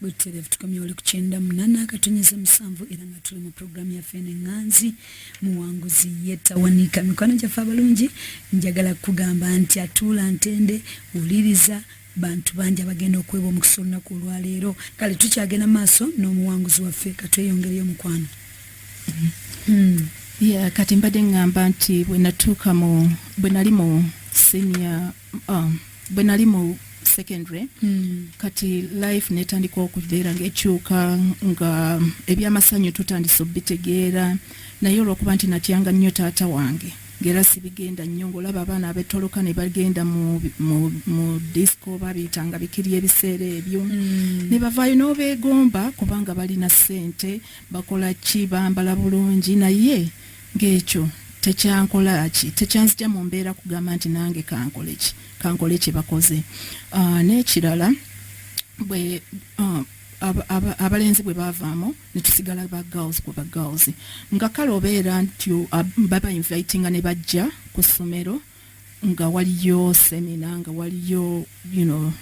butereevu tukomye oli ku kyenda munana akatonyeza musanvu era nga tuli mu puroguramu yaffe enenganzi muwanguzi yetawanika mikwano gyaffe abalungi njagala kugamba nti atuula ntende wuliriza bantu bangi abagenda okweba omukisa olunaku olwaleero kale tukyagenda maaso n'omuwanguzi waffe katweyongereyo mukwano hmm. kati mbadde ŋŋamba nti bwe natuuka bwe nali mu senior um, bwe nali mu secondary mm. kati life netandika okubeera ngaekyuka nga ebyamasanyu tutandise obitegeera naye olwokuba nti natyanga nnyo taata wange ngera sibigenda nnyo ngaolaba abaana abetoloka ne bagenda mu disco babiyitanga bikiri ebiseera ebyo mm. ne bavaayo n'obeegomba kubanga balina ssente bakola ki bambala bulungi naye Ng'ekyo tekyankola ki? Tekyanzigya mu mbeera kugamba nti nange kankole ki? Kankole kye bakoze. Ah, n'ekirala bwe ah, abalenzi bwe baavaamu ne tusigala ba girls ku ba girls nga kale obeera nti baba invitinga ne bajja ku ssomero nga waliyo semina nga waliyo you know,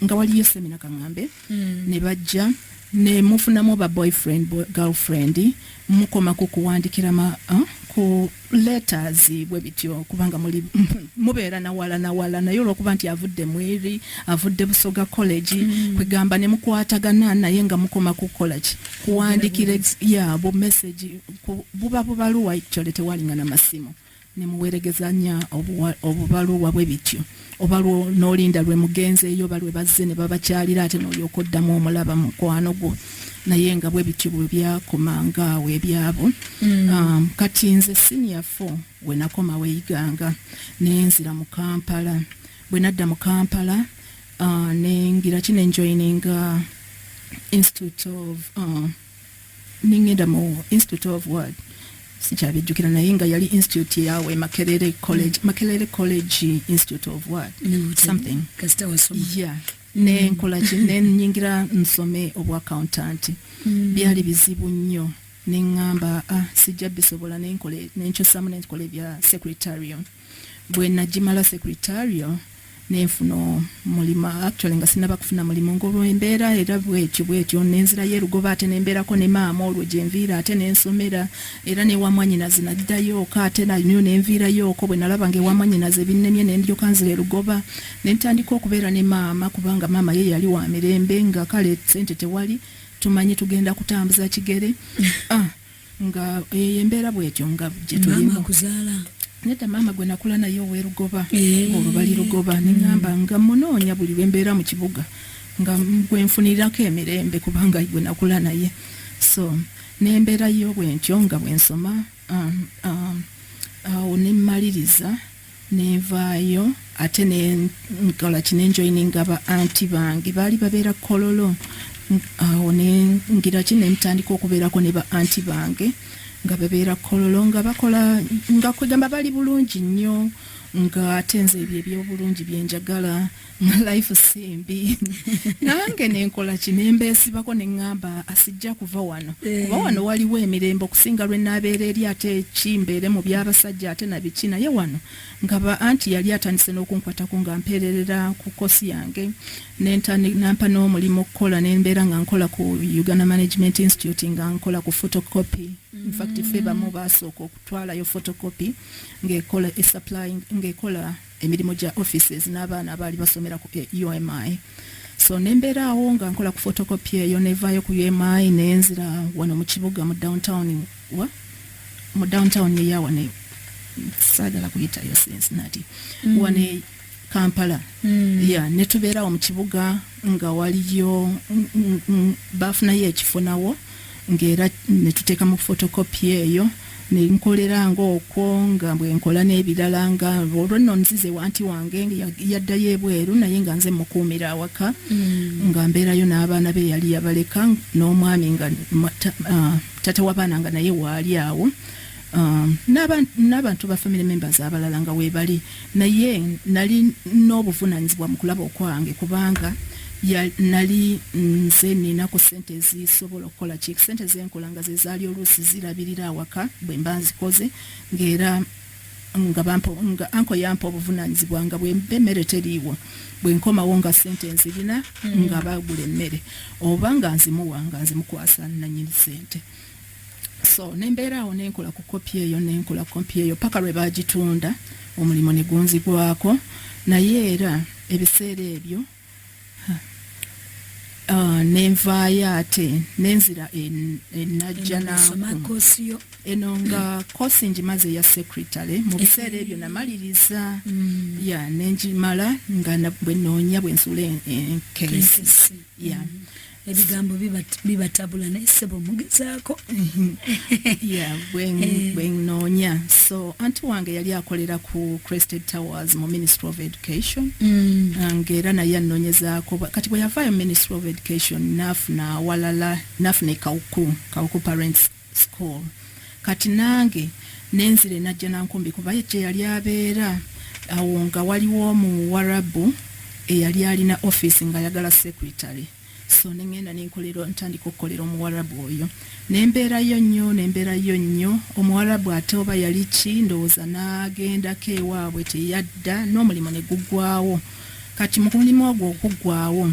nga waliyo semina kaŋambe mm. ne bajja ne mufunamu ba boyfriend boy, girlfriend mukoma ku kuwandikira ma uh, ku letters bwe bityo kubanga muli mubeera nawala nawala naye olwokuba nti avudde mweri avudde busoga college mm. kwegamba ne mukwatagana naye nga mukoma kukola ki kuwandikira ya bu message buba bubaluwa actually tewalingana masimu nemuweregezanya obubaluwa bwe bityo oba nolinda lwe mugenzeeyo oba lwe bazze ne babakyalira ate nolyoka oddamu omulaba mukwano gwo naye nga bwe bityo bwe byakomanga awo ebyabo mm. um, kati nze senior fo we nakoma weyiganga nenzira mu kampala bwe nadda mu kampala uh, nengira ki nenjoininga institute of uh, nengenda mu institute of word sikyabijjukira naye nga yali institute yawe makerere college mm. makerere college institute of word no, something yeah nenkola ki nenyingira nsome obwa accountant mm. byali bizibu nnyo neŋŋamba ah, sijja bisobola nenkyusamu nenkola ebya secretarium bwe nagimala secretarial nenfuna omulimu actually nga sinaba kufuna mulimu ngolwembeera era bwetyo bwetyo nenzirayo erugoba ate nembeerako ne maama olwo gyenviira ate nensomera era newamwanyinazi naddayooko ate nanyo nenviirayooko bwe nalaba nga ewamwanyinazi ebinnemye nendyoka nzira erugoba nentandika okubeera ne maama kubanga maama ye yali wa mirembe nga kale sente tewali tumanyi tugenda kutambuza kigere ah. nga eyo embeera bwetyo nga gyetulimu nedda maama gwe nakula naye owerugoba eh. olwo bali lugoba neŋamba mm. nga munoonya buli lwembeera mu kibuga nga gwenfunirako emirembe kubanga gwe nakula naye so nembeera yo bwentyo nga bwensoma um, um, awo nemmaliriza nenvaayo ate nenkolaki nenjoininga ba anti bange baali babeera kololo awo nengiraki nentandika okubeerako ne ba anti bange nga babeera kololo nga bakola nga kwegamba bali bulungi nnyo nga ate nze ebyo ebyobulungi byenjagala life simbi nange nenkola kinembeesibako neŋŋamba asijja kuva wano eh. kuba wano waliwo emirembe okusinga lwe naabeera eri ate ekimbeere mu by'abasajja ate na biki naye wano ngaba anti yali atandise n'okunkwatako nga mpeererera ku kosi yange nampa n'omulimu okukola nembeera nga nkola ku uganda management institute nga nkola ku photocopy infact fe bamu mm. basooka okutwalayo photocopy ngaekola esupplying ngaekola emirimu gya offices n'abaana abaali basomera ku UMI so nembeera awo nga nkola ku photocopy eyo nevaayo ku UMI nenzira wano mu kibuga mu downtown wa mu downtown eya wano saagala kuyitayo sense nati mm. wano e kampala mm. ya netubeerawo mu kibuga nga waliyo baafunayo ekifo nawo ngaera netuteeka mu photocopy eyo ne nkolera nga okwo nga bwe nkola n'ebirala nga olwo nno nzize wanti wange yaddayo ebweru naye nga nze mukuumira awaka mm. nga mbeerayo n'abaana be yali yabaleka n'omwami nga ah, tata w'abaana nga naye waali awo ah, n'abantu ba family members abalala nga weebali naye nali n'obuvunaanyizibwa mu kulaba okwange kubanga nali nze nina ku sente ezisobola okukola ki sente zenkola nga ze zaali oluusi zirabirira awaka bwe mba nzikoze ng'era nga bampa nga anko yampa obuvunaanyizibwa nga bwemba emmere teriiwo bwe nkomawo nga sente nzirina mm. nga bagula emmere oba nga nzimuwa nga nzimukwasa nanyini sente so nembeera awo nenkola ku kopi eyo nenkola kopi eyo paka lwe bagitunda omulimu ne gunzigwako naye era ebiseera ebyo uh, nenvaayo ate nenzira enajja naku eno nga kosi ngimaze eya secretary mu biseera ebyo namaliriza mm. ya nengimala nga bwenoonya bwensula enkesi ya mm. ebigambo bibatabula naye sebo mugezaako bwenoonya eh. so anti wange yali akolera ku crested towers mu ministry of education mm. ah, ngaera naye anoonyezaako kati bwe yavaayo ministry of education nafuna awalala nafuna ekawuku kawuku parents school kati nange nenzire najja nankumbi kuba gye yali abeera awo nga waliwo omuwarabu eyali alina office nga ayagala secretary so nengenda nenkolera ntandika okukolera omuwarabu oyo nembeerayo nnyo nembeerayo nnyo omuwarabu ate oba yali ki ndowooza nagendako ewaabwe teyadda n'omulimu ne gugwawo kati mu mulimu ogwo okuggwawo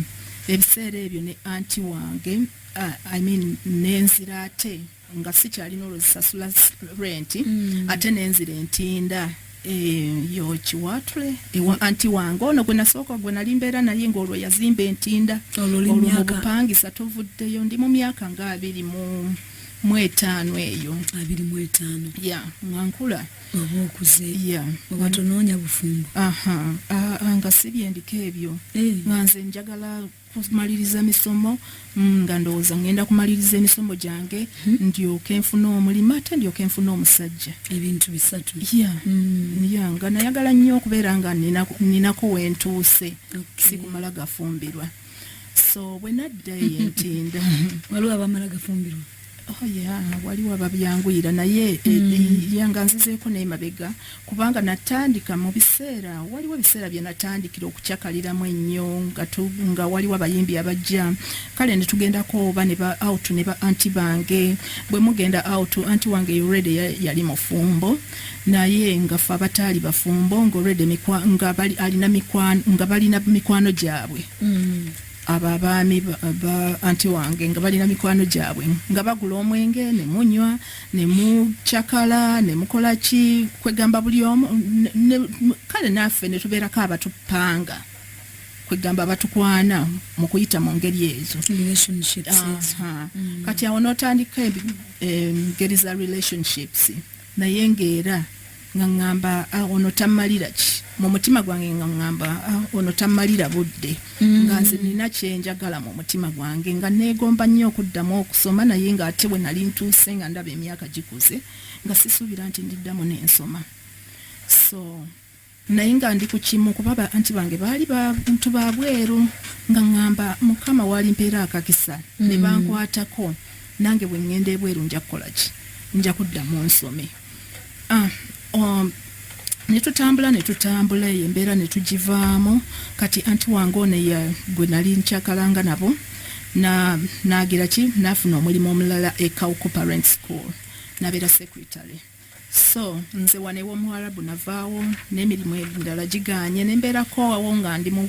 ebiseera ebyo ne anti wange uh, I mean nenzira ate nga sikyalina olwo zisasula rent mm. ate nenzira entinda eh, yokiwatre ewa anti wange ono gwe nasooka gwe nali mbeera naye ngaolwo yazimba entinda olwo mubupangisa tovuddeyo ndi mu myaka nga abiri mu mu etaano eyo abiri mu etaano ya nga nkula oba okuze ya oba tonoonya bufumbo aha nga sibye ndiko ebyo eh. nga nze njagala kumaliriza misomo mm, nga ndowooza ngenda kumaliriza emisomo gyange hmm. ndyoke nfuna omulimu ate ndyoke nfuna omusajja ebintu bisatu ya hmm. nga nayagala nnyo okubeera nga ninako wentuuse sikumala gafumbirwa so bwe naddayo entinda waliwo abamala gafumbirwa Oh, waliwo ababyanguyira naye eh, mm. eh, yanga nzizeeko naye mabega kubanga natandika mu biseera waliwo ebiseera bye natandikira okucakaliramu ennyo nga waliwo abayimbi abajja kale ne tugendako oba ne ba out ne ba anti bange bwe mugenda out anti wange yorede yali mufumbo naye nga fe abataali bafumbo ngaolede nga balina mikwano gyabwe mm. abo abaami ba anti wange nga balina mikwano gyabwe nga bagula omwenge ne munywa ne mucakala ne mukola ki kwegamba buli omu kale naffe ne tubeerako abatupanga kwegamba abatukwana mu kuyita mu ngeri ezo mm. kati awo notandika engeri za relationships naye nga era nga ŋŋamba ah, ono tammalira ki mu mutima gwange nga ŋŋamba ah, ono tammalira budde mm. nga nze nina kyenjagala mu mutima gwange nga neegomba nnyo okuddamu okusoma naye nga ate bwe nali ntuuse nga ndaba emyaka gikuze nga sisuubira nti ndiddamu n'ensoma so naye nga ndi ku kimu kuba ba anti bange baali bantu ba bweru nga ŋŋamba mukama walimpeera akakisa ne mm. bankwatako nange bwe ŋŋenda ebweru nja kukola ki nja kuddamu nsome ah, um, ne tutambula ne tutambula eyo embeera ne tugivaamu kati anti wange ono gwe nali nkyakalanga nabo naagira ki naafuna omulimu omulala e cowco parent school nabeera secretary so nze wano ewomuwarabu navaawo n'emirimu endala giganye nembeerako wawo nga ndi mu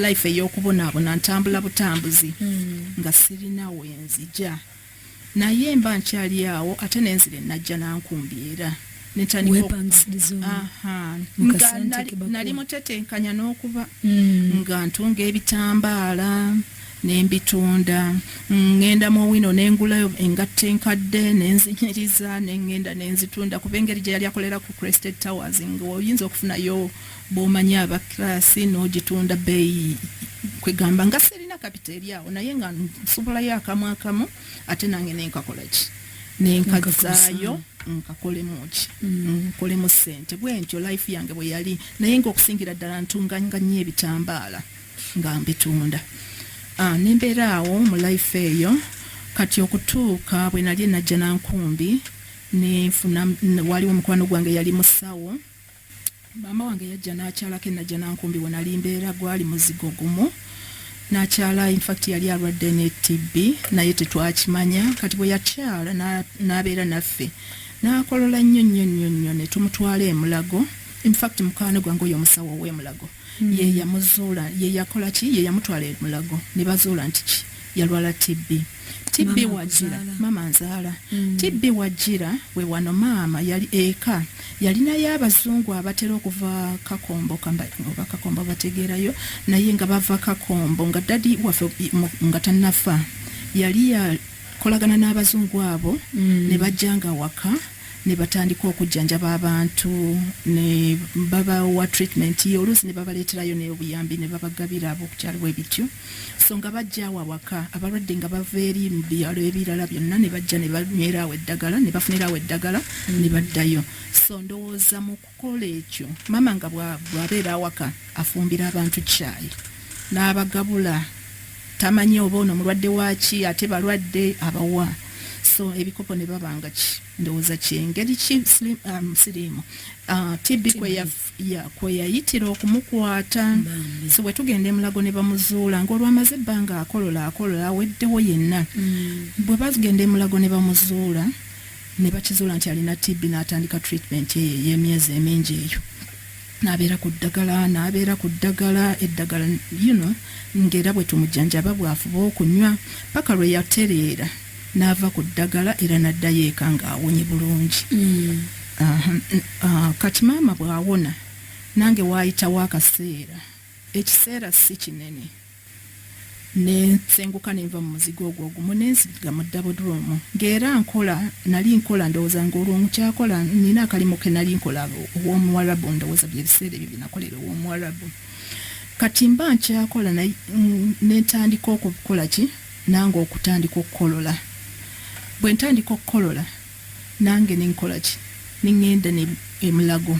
life ey'okubonaabona ntambula butambuzi hmm. nga sirina wenzija naye mba nkyali awo ate nenzire najja nankumbi era nali mutetenkanya n'okuba hmm. nga ntunga ebitambaala ne mbitunda ngenda mu wino ne ngulayo engatto enkadde ne nzinyiriza ne ngenda ne nzitunda kuba engeri gye yali akolera ku crested towers ngaoyinza okufunayo bw'omanyi abakirasi n'ogitunda bbeeyi kwegamba nga sirina kapita eri awo naye nga nsubulayo akamu akamu ate nange nenkakola ki nenkazaayo nkakolemu ki mm. nkolemu sente bwentyo life yange bwe yali naye ngaokusingira ddala ntunganganya ebitambaala nga mbitunda ah, nembeera awo mu life eyo kati okutuuka bwe nali najja nankumbi nenfuna waliwo omukwano gwange yali musawo maama wange yajja nakyalako enajja nankumbi wenali mbeera gwali muzigo gumu nakyala infact yali alwadde ne tb naye tetwakimanya kati bwe yakyala nabeera naffe nakolola nnyo nnyo nnyo nnyo netumutwala emulago infact mukwano gwange oyo omusawo owemulago hmm. ye yamuzuula ye yakola ki ye yamutwala e mulago ne bazuula nti ki yalwala tb tb wajira maama nzaala hmm. tb wajira we wano maama yali eka yalinayo abazungu abatera okuva kakombo oba kakombo bategeerayo naye nga bava kakombo nga dadi waffe nga tanafa yali yakolagana n'abazungu abo hmm. ne bajjanga waka ne batandika okujjanjaba abantu ne babawa treatment ye oluusi ne babaleeterayo n'obuyambi ne babagabira ab'okukyalo bwe bityo so nga bajja awo awaka abalwadde nga bava eri mu byalo ebirala byonna ne bajja ne banywera awo eddagala ne bafunira awo eddagala ne baddayo so ndowooza mu Kola ekyo maama nga bw'abeera awaka afumbira abantu caayi n'abagabula tamanyi oba ono mulwadde waaki ate balwadde abawa so ebikopo ne baba nga ki ndowooza kyengeri ki um, siriimu uh, tb kweyayitira okumukwata so bwe tugenda emulago ne bamuzuula ng'olwamaze ebbanga akolola akolola aweddewo yenna mm. bwe bagenda emulago ne bamuzuula ne bakizuula nti alina TB n'atandika treatment eyo ey'emyezi emingi eyo n'abeera ku ddagala n'abeera ku ddagala eddagala you know ng'era bwe tumujjanjaba bw'afuba okunywa paka lwe yatereera n'ava ku ddagala era n'addayo eka ng'awonye bulungi mm. ah, kati maama bw'awona nange waayitawo akaseera ekiseera si kinene ne nsenguka ne nva mu muzigo ogwo ogumu ne nsiga mu ddabuduumu ng'era nkola nali nkola ndowooza ng'olwo nkyakola nina akalimu ke nali nkola ow'omuwarabu ndowooza bye biseera ebyo bye nakolera ow'omuwarabu kati mba nkyakola ne ntandika okukola ki nange okutandika okukolola bwe ntandika okukolola nange ne nkola ki ne ŋŋenda ne emulago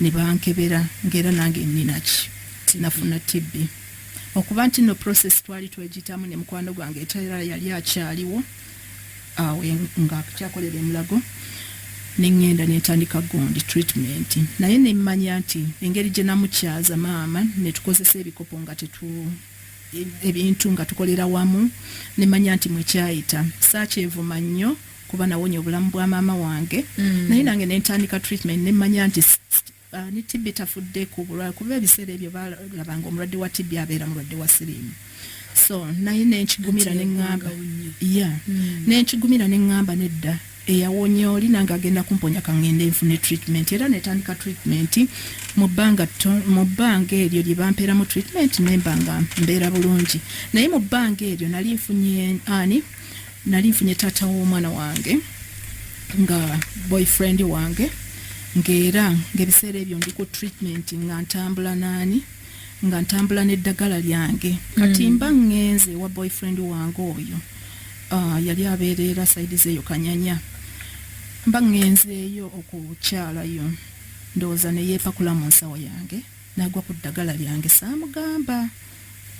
ne bankebera ng'era nange nina ki sinafuna tibbi okuba nti no process twali twegitamu ne mukwano gwange etera yali akyaliwo awo nga kyakolera emulago neŋŋenda nentandika gundi treatment naye nemmanya nti engeri gye namukyaza maama netukozesa ebikopo nga tetu ebintu nga tukolera wamu nemanya nti mwekyayita sakyevuma nnyo kuba nawonya obulamu bwa maama wange mm. naye nange nentandika treatment nemmanya nti Uh, ne tibbi tafudde ku bulwale kuba ebiseera ebyo balabanga omulwadde wa tibbi abeera mulwadde wa siriimu so naye nenkigumira neŋŋamba ya hmm. nenkigumira neŋŋamba nedda eyawonye oli nange agenda kumponya kaŋŋende nfune treatment era netandika treatment mu bbanga mu bbanga eryo lye bampeeramu treatment nemba nga mbeera bulungi naye mu bbanga eryo nali nfunye ani nali nfunye taata w'omwana wange nga boyfriend wange ng'era ng'ebiseera ebyo ndi ku treatment nga ntambula naani nga ntambula n'eddagala lyange kati mm. mba ŋŋenze wa boyfriend wange oyo ah, yali abeereera saidi zeeyo kanyanya mba ŋŋenzeeyo okukyalayo ndowooza ne yeepakula mu nsawo yange Nagwa ku ddagala lyange saamugamba.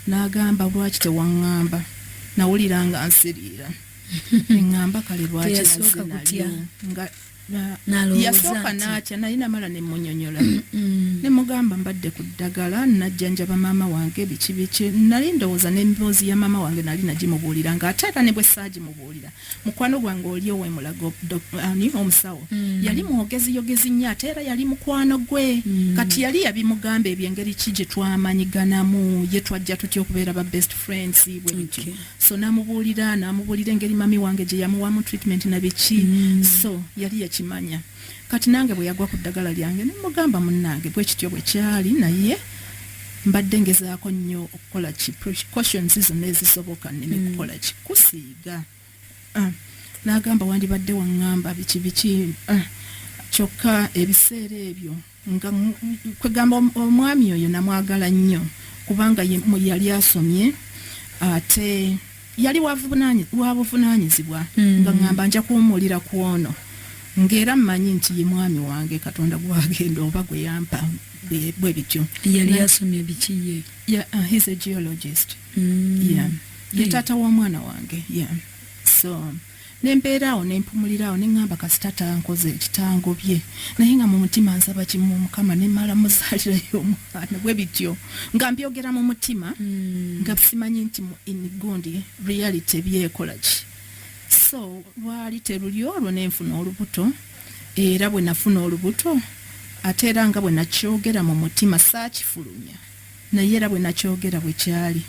N'agamba lwaki tewaŋŋamba nawulira nga nsiriira ne ŋŋamba kale lwaki nazze nalyo nga yasooka n'atya naye namala ne munyonyola ne mugamba mbadde ku ddagala najjanjaba maama wange biki biki nali ndowooza n'emboozi ya maama wange nali nagimubuulira ng'ate era ne bwe saagimubuulira mukwano gwange oli owemulago ani omusawo mm. yali mwogezi yogezi nnyo ate era yali mukwano gwe mm. kati yali yabimugamba ebyo engeri ki gye twamanyiganamu ye twajja tutya okubeera ba best friends bwe bityo okay. so namubuulira namubuulira engeri mami wange gye yamuwamu treatment na biki mm. so yali yakimanya kati nange bwe yagwa ku ddagala lyange nemugamba munnange bwe kityo bwe kyali naye mbadde ngezaako nnyo okukola ki precautions zonna ezisoboka neme mm. kukola ki kusiiba ga ah, n'agamba wandibadde waŋŋamba biki biki ah, kyokka ebiseera ebyo nga kwegamba omwami oyo namwagala nnyo kubanga yali asomye ate yali wabuvunaanyizibwa hmm. nga ŋŋamba nja kuwumulira ku ono ng'era mmanyi nti ye mwami wange katonda gwagenda oba gwe yampa bwe bityo yali asomye biki ye uh, mm. yeah. ye taata wa mwana wange yeah. so nembeera awo nempumulira awo neŋamba kasita tankoze ekitango bye naye nga mu mutima nsaba kimu mukama nemala muzalirayo omwana bwe bityo nga mbyogera mu mutima mm. nga simanyi nti mu inigundi reality byekola ki so lwali teruli olwo nenfuna olubuto era bwe nafuna olubuto ate era nga bwe nakyogera mu mutima saakifulumya Naye era bwe nakyogera bwe kyali.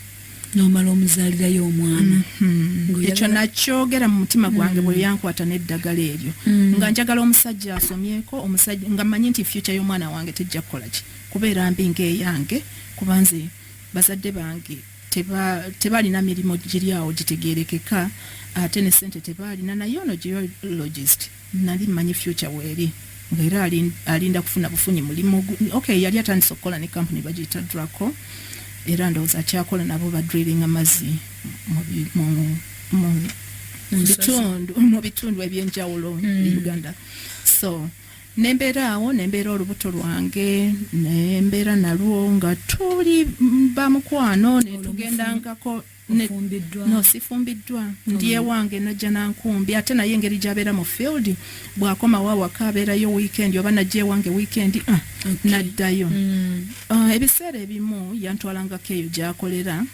N'omala omuzaalirayo omwana. Mm-hmm. Ekyo nakyogera mu mutima mm. gwange bwe yankwata n'eddagala eryo. Mm. Nga njagala omusajja asomyeko, omusajja nga mmanyi nti future y'omwana wange tejja kukola ki kubeera mbi ng'eyange kuba nze bazadde bange tebalina mirimu giri awo gitegeerekeka ate ne ssente tebaalina naye ono geologist Nali mmanyi future weeri nga era alinda kufuna bufunyi mulimu ok yali atandise okukola ne kampuni bagiyita draco era ndowooza akyakola nabo ba drilling amazzi mu bitundu ebyenjawulo mm. e uganda so nembeera awo nembeera olubuto lwange nembeera nalwo nga tuli bamukwano netugendangako no sifumbiddwa mm. ndi ewange najja nankumbi ate naye engeri gyabeera mu field bwakomawo awaka abeerayo weekend oba najja ewange weekend ah, naddayo mm. ah, ebiseera ebimu yantwalangako eyo gyakolera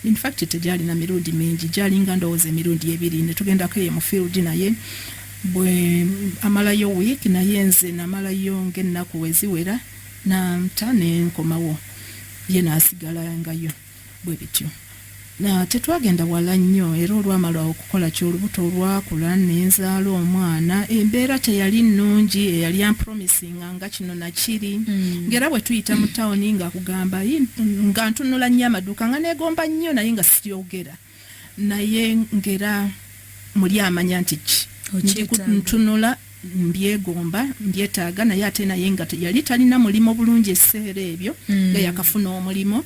infact tegyalina mirundi mingi gyalinga ndowooza emirundi ebiri netugendako eyo mu field naye bwe amalayo week naye nze namalayo ngaennaku weziwera nanta nenkomawo ye nasigala ngayo Bwe bityo, tetwagenda wala nnyo, era olwamala okukola kyo, olubuto olwakula, ne nzaala omwana. Embeera teyali nnungi, eyali ampromisinga nga kino na kiri. Nga era bwe tuyita mu tawuni, nga akugamba, nga ntunula nnyo amaduuka, nga neegomba nnyo naye nga siyogera. naye ngera muli amanya nti ki ntunula mbyegomba mbyetaaga naye ate naye nga yali talina mulimu bulungi ekiseera ebyo mm. nga yakafuna omulimu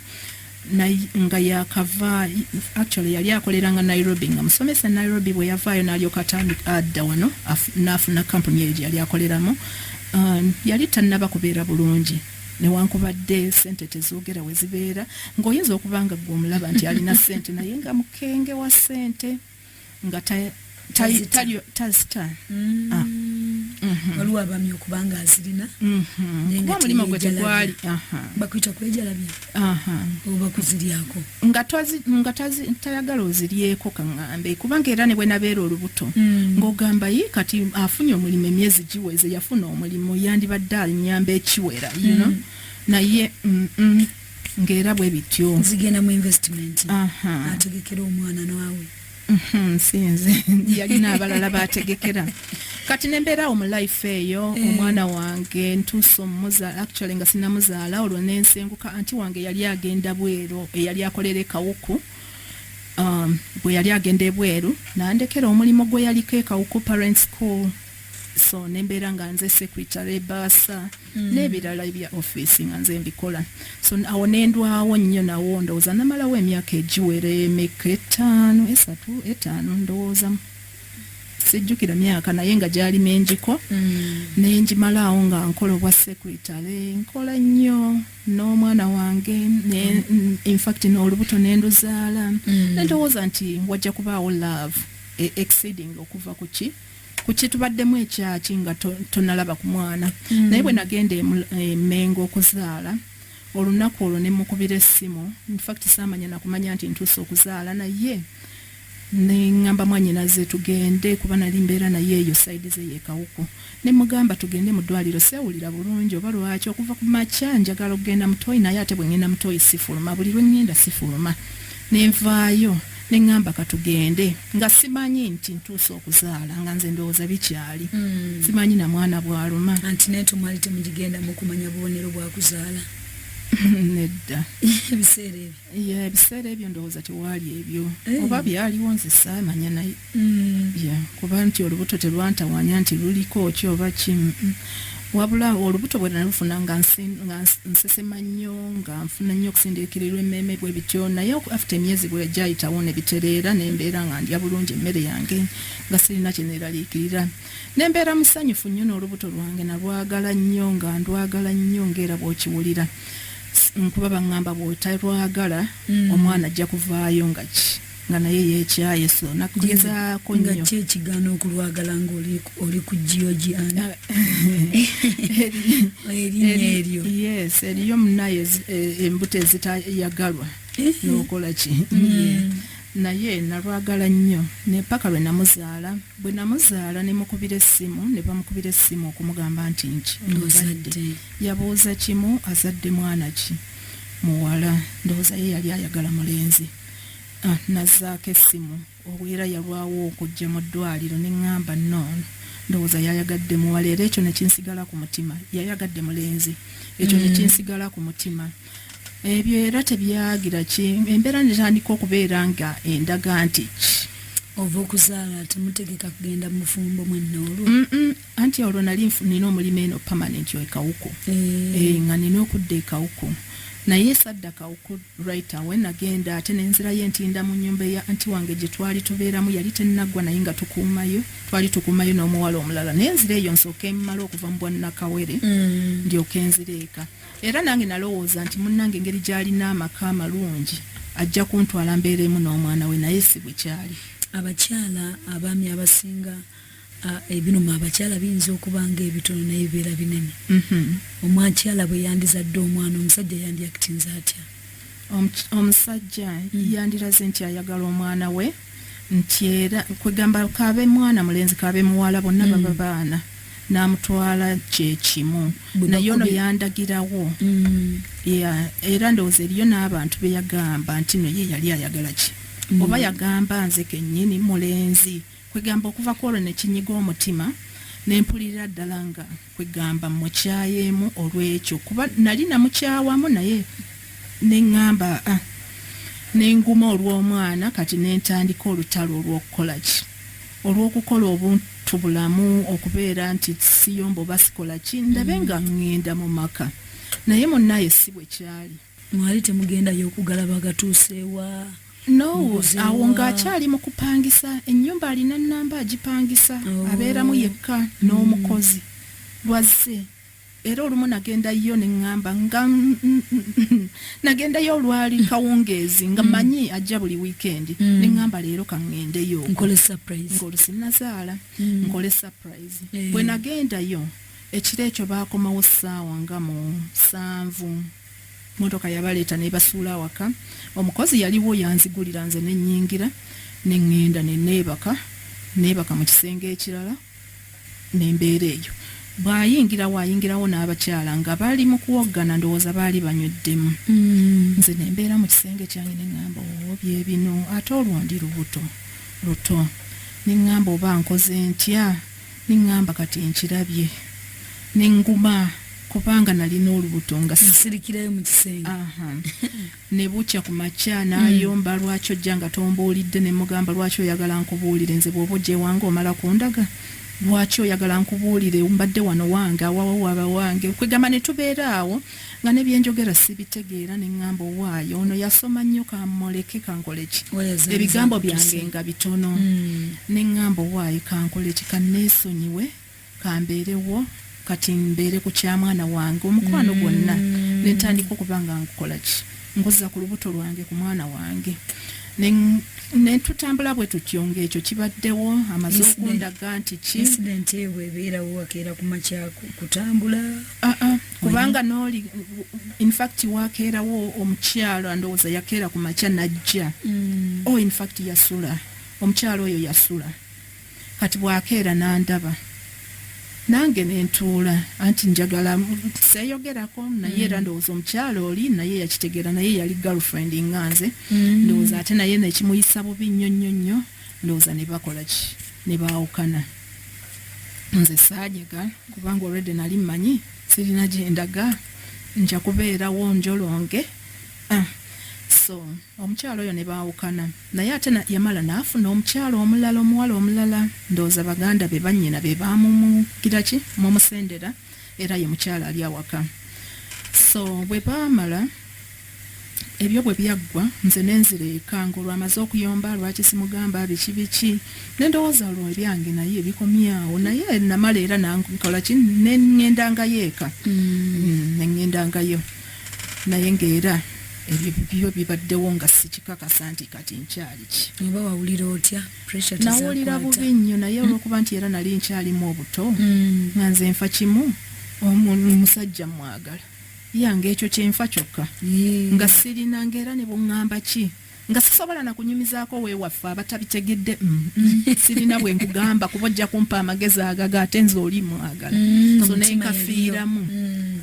nga yakava actually yali akolera nga nairobi nga musomesa nairobi bwe yavaayo nalyoka atandika adda wano n'afuna kampuni eyo gye yali akoleramu um, yali tannaba kubeera bulungi newankubadde sente tezogera wezibeera ngaoyinza okuba nga gwe omulaba nti alina sente naye nga mukenge wa sente nga tazita mm. ah. mm-hmm. waliwo abami okubanga azirina mm-hmm. kuba omulimu gwe tegwali bakuyita kwejalabya oba kuziryako nga tayagala oziryeko kaŋŋambe kubanga era ne bwe nabeera olubuto mm. ng'ogamba yi kati afunye omulimu emyezi giweze yafuna omulimu yandibadde anyamba ekiwera you know mm. naye ng'era bwe bityo nzigendamu investment ategekera omwana naawe Mhm, sinze yalina abalala bategekera kati nembeeraawo mu life eyo eh. omwana wange ntuuse omumuzaala actually nga sinamuzaala olwo nensenguka anti wange yali agenda bweru eyali akolera ekawuku um, bwe yali agenda ebweru nandekera omulimu gwe yaliko ekawuku parent school so nembeera nga nze secretary baasa Mm. n'ebirala ebya office nga nze mbikola so awo nendwawo nnyo nawo ndowooza namalawo emyaka egiwera emeka etaano esatu etaano ndowooza sijjukira myaka naye nga gyali mengiko mm. nengimalaawo nga nkola obwa secretary nkola nnyo n'omwana wange mm. infact n'olubuto nenduzaala nendowooza nti wajja kubaawo love e-, exceeding okuva ku ki kukitubaddemu ekyaki nga tonalaba ku mwana mm. naye bwe nagenda emengo e okuzaala olunaku olwo ne mukubira essimu infact saamanya nakumanya nti ntuusa okuzaala naye nengamba mwanyinaze tugende kuba nali mbeera naye eyo saidi ze yekawuku ne mugamba tugende mu ddwaliro sewulira bulungi oba lwaki okuva ku makya njagala okugenda mutoyi naye ate bwe ngenda mutoyi sifuluma buli lwe ngenda sifuluma nenvaayo ne ŋŋamba ka tugende nga simanyi nti ntuuse okuzaala nga nze ndowooza bikyali hmm. simanyi na mwana bw'aluma anti naye tomwali temugigenda mu kumanya bubonero bwa kuzaala nedda ebiseera ebyo ebiseera ebyo ndowooza tewaali ebyo eh. oba byaliwo nze saamanya naye hmm. kuba nti olubuto telwantawanya nti luliko ki oba ki wabula olubuto bwe nalufuna nga nsesema nnyo nga nfuna nnyo okusindiikirirwa emmeeme bwe bityo naye afite emyezi bwe gyayitawo ne bitereera ne mbeera nga ndya bulungi emmere yange nga sirina kye neeraliikirira ne mbeera musanyufu nnyo n'olubuto lwange nalwagala nnyo nga ndwagala nnyo ng'era bw'okiwulira nkuba baŋŋamba bw'otalwagala hmm. omwana ajja kuvaayo nga ki nga naye yekyaye so nakugezaako nyo nga kye kigaana okulwagala nga oli ku giogi ana erinya eryo yes eriyo munaye eh, embuto ezitayagalwa eh. nokola ki mm. naye nalwagala nnyo nepaka lwe namuzaala bwe namuzaala ne mukubira essimu ne bamukubira essimu okumugamba nti nki ozadde yabuuza kimu azadde mwana ki muwala ndowooza ye yali ayagala mulenzi Nazzaako essimu obwera yalwawo okujja mu ddwaaliro ne ŋŋamba nnon, ndowooza yayagadde muwala era ekyo ne kinsigala ku mutima. Yayagadde mulenzi. Ekyo ne kinsigala ku mutima. Ebyo era tebyagira ki, embeera ne tandika okubeera nga endaga nti ki. Ova okuzaala temutegeka kugenda mu bufumbo mwenna olwo? Anti olwo nali nina omulimo eno permanent e Kawuku. Eeh. Eeh nga nina okudda e Kawuku. Naye sadda Kawuku right away nagenda ate ne nzirayo e Ntinda mu nnyumba eya anti wange gye twali tubeeramu yali tennaggwa naye nga tukuumayo twali tukuumayo n'omuwala omulala naye nzire eyo nsooke mmale okuva mu bwannakawere ndyoke nzire eka. Era nange nalowooza nti munnange engeri gy'alina amaka amalungi ajja kuntwala mbeereemu n'omwana we naye si bwe kyali. Abakyala abaami abasinga. Ah, ebinuma abakyala biyinza okuba nga ebitono naye bibeera binene mhm. omwakyala bwe yandizadde omwana omusajja yandiyakitinza atya omusajja hmm. yandiraze nti ayagala omwana we nti era kwegamba kabe mwana mulenzi kabe muwala bonna hmm. baba baana namutwala kyekimu naye ono yandagirawo hmm. era ndowooza eriyo n'abantu beyagamba nti no ye yali ayagala ki oba yagamba nze kenyini mulenzi Kwegamba okuva kwolwo nekinyiga omutima nempulirira ddala nga kwegamba mukyayeemu olwekyo kuba nali namukyawamu naye neŋŋamba ah, nenguma olw'omwana kati nentandika olutalo olw'okukolaki olw'okukola obuntu bulamu okubeera nti siyomba oba sikolaki ndabe nga ŋŋenda mu maka naye munnaye si bwe kyali Mwali temugendayo okugala bagatuuseewa? No, awo ng'akyali mu kupangisa. Ennyumba alina nnamba agipangisa, oh. abeeramu yekka hmm. n'omukozi. Lwazze era olumu nagenda yo ne ŋŋamba nga nagendayo olwali kawungeezi nga hmm. manyi ajja buli wiikendi hmm. ne ŋŋamba leero kaŋŋendeyo ng'olusinnazaala nkole surprise eh. bwe nagendayo Ekiro ekyo baakomawo ssaawa nga mu sanvu. Mmotoka yabaleeta n'ebasuula awaka. Omukozi yaliwo yanzigulira nze ne nnyingira ne ŋŋenda ne neebaka neebaka mu kisenge ekirala ne mbeera eyo. Bw'ayingirawo ayingirawo n'abakyala nga bali mu kuwoggana ndowooza baali banyweddemu. Mm. Nze ne mbeera mu kisenge kyange ne ŋŋamba oo oh, bye bino ate olwo ndi lubuto luto ne ŋŋamba oba nkoze ntya Nengamba kati nkirabye nenguma kubanga nalina olubuto nga sisirikirayo mu kisenge ne bukya ku makya hmm. n'ayomba lwaki ojja nga tombuulidde ne mugamba lwaki oyagala nkubuulire nze bw'oba ogyewanga omala kundaga lwaki oyagala nkubuulire mbadde wano wange awawo waba wange kwegamba ne tubeera awo nga ne byenjogera sibitegeera ne ŋŋamba owaayo ono yasoma nnyo kamuleke kankoleki ebigambo byange nga bitono hmm. ne ŋŋamba owaayo kankoleki kanneesonyiwe kambeerewo kati mbeere ku kya mwana wange omukwano hmm. gwonna ne ntandika okuba nga nkukola ki nkuza ku lubuto lwange ku mwana wange ne tutambula bwe tutyo ng'ekyo kibaddewo amaze okundaga nti ki ebeerawo wakeera ku makya kutambula ah, ah. kubanga noli infact wakeerawo omukyalo andowooza yakeera ku makya najja mm. o oh, infact yasula omukyalo oyo yasula kati bwakeera nandaba nange nentuula anti njagala seyogerako naye era mm. ndowooza omukyalo oli naye yakitegeera naye yali girlfriend nga nze mm. ndowooza ate naye nekimuyisa bubi nnyo nnyo nnyo ndowooza nebakolaki nebaawukana mm. nze saajega kubanga olwedde nali mmanyi sirina gyendaga nja kubeerawo njolonge ah, so omukyalo oyo ne baawukana naye ate yamala naafuna omukyalo omulala omuwala omulala ndowooza baganda be bannyina be baamumugiraki mumusendera mu era ye mukyala ali awaka so bwe baamala ebyo bwe byaggwa nze nenzira eka ng'olwamaze okuyomba lwaki simugamba biki biki ne ndowooza olwo ebyange naye bikomyawo naye namala era nankola ki ne ŋŋendangayo eka mm. mm, ne ŋŋendangayo naye ng'era ebyo byo bibaddewo nga sikikakasa nti kati nkyali ki oba wawulira otya nawulira bubi nnyo naye olwokuba nti era nali nkyalimu obuto mm. nga nze nfa kimu omusajja mwagala yange ekyo kyenfa kyokka nga sirina ngaera ne buŋŋamba ki nga sisobola na kunyumizaako wewaffe abatabitegedde mm, mm. sirina bwe nkugamba kuba ojja kumpa amagezi agaga ate nze oli mwagala so nenkafiiramu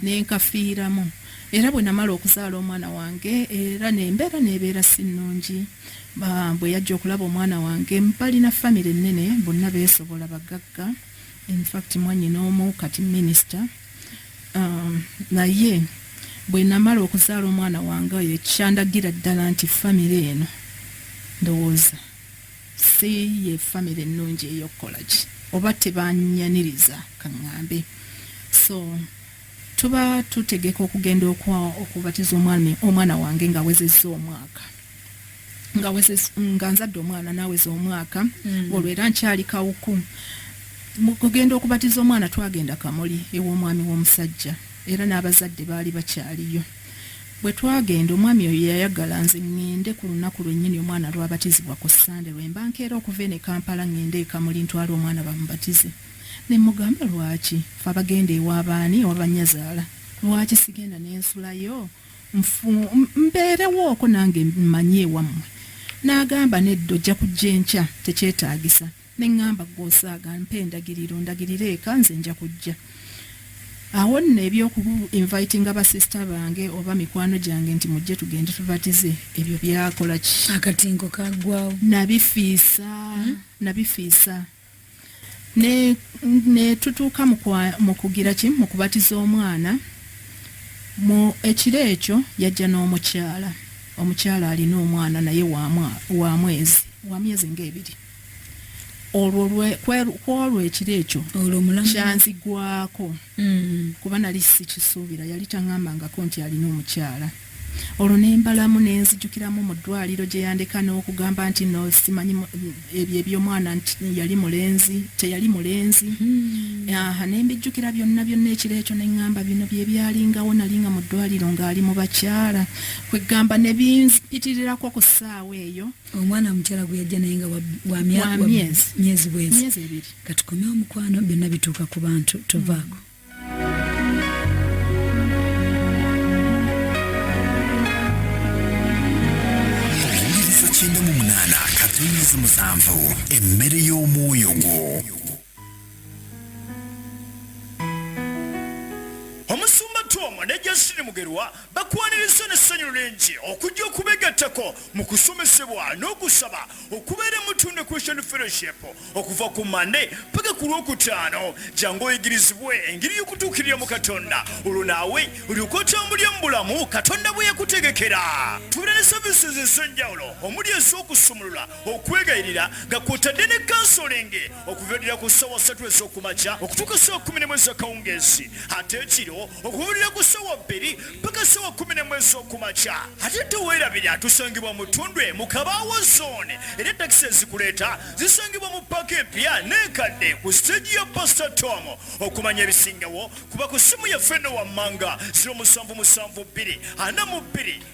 nenkafiiramu era bwe namala okuzaala omwana wange era nembeera nebeera si nnungi bwe yajja okulaba omwana wange balina famire ennene bonna beesobola bagagga infact mwanyina omu kati minisita um, naye bwe namala okuzaala omwana wange oyo ekyandagira ddala nti famire eno ndowooza si ye famire ennungi ey'okukola ki oba tebanyaniriza kaŋŋambe so tuba tutegeka okugenda okubatiza omwana wange ng'awezezza omwaka nga wezes nga nzadde omwana naweza omwaka mm. olwo era nkyali kawuku mukugenda okubatiza omwana twagenda kamuli ew'omwami w'omusajja era n'abazadde baali bakyaliyo bwe twagenda omwami oyo yayagala nze ŋŋende ku lunaku lwennyini omwana lwabatizibwa ku ssande lwe mba nkeera okuva ene kampala ŋŋende ekamuli ntwala omwana bamubatize ne mugamba lwaki fe abagenda ewaabaani owabanyazaala lwaki sigenda n'ensulayo nfu mbeerewooko nange mmanyi ewammwe n'agamba nedda ojja kujja enkya tekyetaagisa ne ŋŋamba gwe osaaga mpa endagiriro ndagirire eka nze nja kujja awo nno ebyokubu invitinga basisita bange oba mikwano gyange nti mujje tugende tubatize ebyo byakola ki akatinko kagwawo nabifiisa hmm? nabifiisa ne, ne tutuuka mu kugira ki mu kubatiza omwana mu ekiro ekyo yajja n'omukyala omukyala alina omwana naye wa mwezi wa myezi ng'ebiri olwo kwolwo ekiro ekyo kyanzigwako mm. kuba nali sikisuubira yali taŋambangako nti alina omukyala olwo nembalamu nenzijukiramu mu ddwaliro gye yandeka n'okugamba nti no simanyi ebyo ebyomwana nti yali mulenzi teyali mulenzi hmm. aha nembijjukira byonna byonna ekiro ekyo neŋŋamba bino bye byalingawo nali nga mu ddwaliro ng'ali mu bakyala kweggamba ne binpitirirako ku ssaawa eyo omwana omukyala gwe yajja naye nga wamyezi bwezi katukomye omukwano byonna bituuka ku bantu tovaako mm. katonda musanvu emmere y'omwoyo gwo omusumba twoma ne jasini mugerwa bakwaniriza n'essanyu lingi okujja okubegattako mu kusomesebwa n'okusaba okubeera emutunda christian fellowship okuva ku mande paka ku lwokutaano jangu oyigirizibwe engeri y'okutuukirira mu katonda olwo naawe olyoka otambulya mu bulamu katonda bwe yakutegekera tubeera ne services ez'enjawulo omuli ez'okusumulula okwegayirira nga kwotadde ne kansolingi okuviirira ku ssaawa ssatu ez'okumakya okutuuka ssaawa kumi nemu ez'akawungeezi ate ekiro okuviirira ku ssaawa bbiri paka ssaawa kumi nemu ez'okumakya ate teweerabira tusangibwa mu ttundu emu kabaawo zooni era takisi ezikuleeta zisangibwa mu paaka empya n'enkadde ku siteegi ya pasita tom okumanya ebisingawo kuba ku ssimu yaffe eno wammanga 0772 42